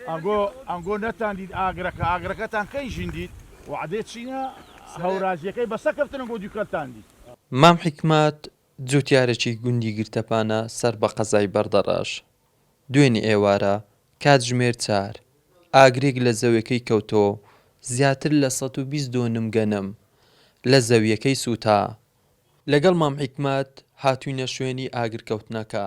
ئەنگۆ ئەنگۆ نەتان دیت ئاگرەکە ئاگرەکەتان کەی ژین دیت وەعدەی چینە هەورازیەکەی بەسە کەفتن ئەنگۆ دوکەلتان دیت. مام حیکمەت جوتیارێکی گوندی گرتەپانە سەر بە قەزای بەردەڕەش، دوێنێ ئێوارە کاتژمێر چار، ئاگرێک لە زەوێکەی کەوتەوە و زیاتر لە سەد و بیست دۆنم گەنم لە زەویەکەی سوتا، لەگەڵ مام حیکمەت هاتوینە شوێنی ئاگرکەوتنەکە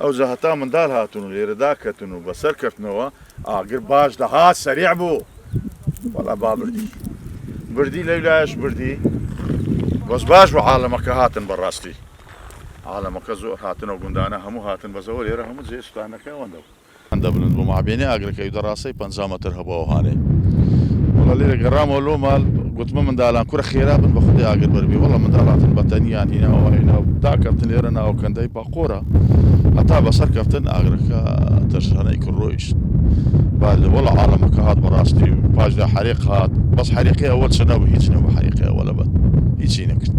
ئەوجا هەتا مندال هاتن و لێرە داکەتن و بەسەر کەتنەوە ئاگر باش دەهات سەریع بوو وەڵا با بردی بردی لەو لایەش بردی بەس باش بە عاالەمەکە هاتن بەڕاستی عاالەمەکە زۆر هاتنەوە گوندانە هەموو هاتن بەزەوە لێرە هەموو جێ شتانەکە ئەوەندە بوو هەندە بلند بوو مابەینی ئاگرەکەی و دەڕاسەی پەنجا مەتر هەبوو ئەوهانەی وەڵا لێرە گەڕامەوە لۆ مال گوتمە مندالان کورە خێرا بن بە خودی ئاگر بەربی وەڵا مندال هاتن بەتەنیان هیناوە هینا و تا کەفتن لێرە ناو کەندەی پاقۆرە هەتا بەسەر کەفتن ئاگرەکە تەرشانەی کرد ڕۆیشت بعد وەڵا عالەمەکە هات بەڕاستی و پاشدا حەریق هات بەس حەریقی ئەوە چ نەبوو هیچ نەبوو حەریقی ئەوە لەبەر هیچی نەکرد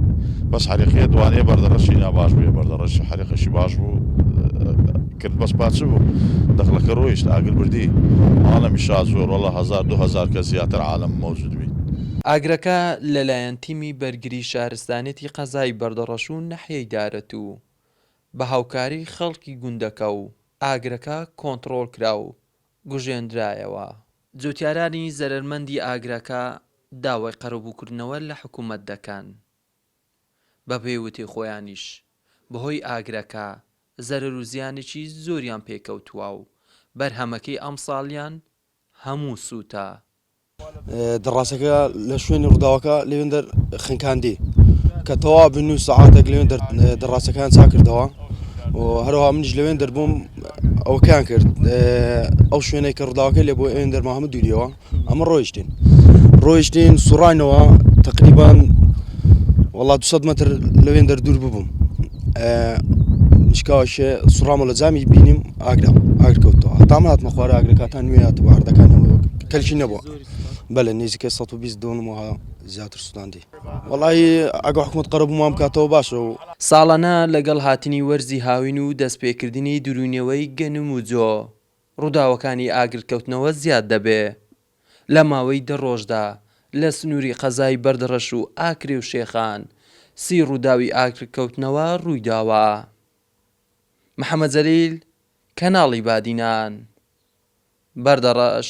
بەس حەریقیە دوانەیە بەردەڕەشی ناباش بووە بەردەڕەشی حەریقەشی باش بوو کرد بەس پاچ بوو دەخلەکە ڕۆیشت ئاگر بردی عالەمی شا زۆر وەڵا هەزار دوو هەزار کەس زیاتر عالەم مەوجود بیت. ئاگرەکە لەلایەن تیمی بەرگری شارستانێتی قەزای بەردەڕەش و ناحیەی دارەتوو بە هاوکاری خەڵکی گوندەکە و ئاگرەکە کۆنتڕۆڵ کرا و گوژێندرایەوە. جوتیارانی زەرەرمەندی ئاگرەکە داوای قەرەبووکردنەوە لە حکوومەت دەکەن. بەپێی وتەی خۆیانیش بەهۆی ئاگرەکە زەرەر و زیانێکی زۆریان پێکەوتووە و بەرهەمەکەی ئەمساڵیان هەموو سووتا. دەڕاسەکە لە شوێنی ڕووداوەکە لەوێندەر خنکاندی کە تەوا بن و سەعاتێک لەوێن دەڕاستەکان چاکردەوە و هەروها منیش لەوێن دەربووم ئەوکان کرد ئەو شوێنێک کە ڕووداوەکە لێ بۆ ئەوێن دەرماهمە دووریەوە ئەمە ڕۆیشتین ڕۆیشتین سوڕانەوە تقریبان وڵات 200 متر لەوێن دەردور ببووم شکاوشێ سوڕامە لە جامی بینیم ئاگرا ئاگرکەوتەوە تام هاتمە خوارە ئاگرەکەتان نوێ هاتە باردەکانەوە کەلکی نەبووە بەلە نزیکە 120 دۆنمەوە زیاتر سوستاندی وڵی ئەگە حکومت قەرەبوومان بکاتەوە باشە و ساڵانە لەگەڵ هاتنی وەرزی هاوین و دەستپێکردنی دروونەوەی گەنم و جۆ، ڕووداوەکانی ئاگرکەوتنەوە زیاد دەبێ. لە ماوەی دە ڕۆژدا لە سنووری قەزای بەردڕەش و ئاکرێ و شێخان سی ڕووداوی ئاگرکەوتنەوە ڕوویداوە. محەمەد جەلیل، کەناڵی بادینان. بەردەڕەش،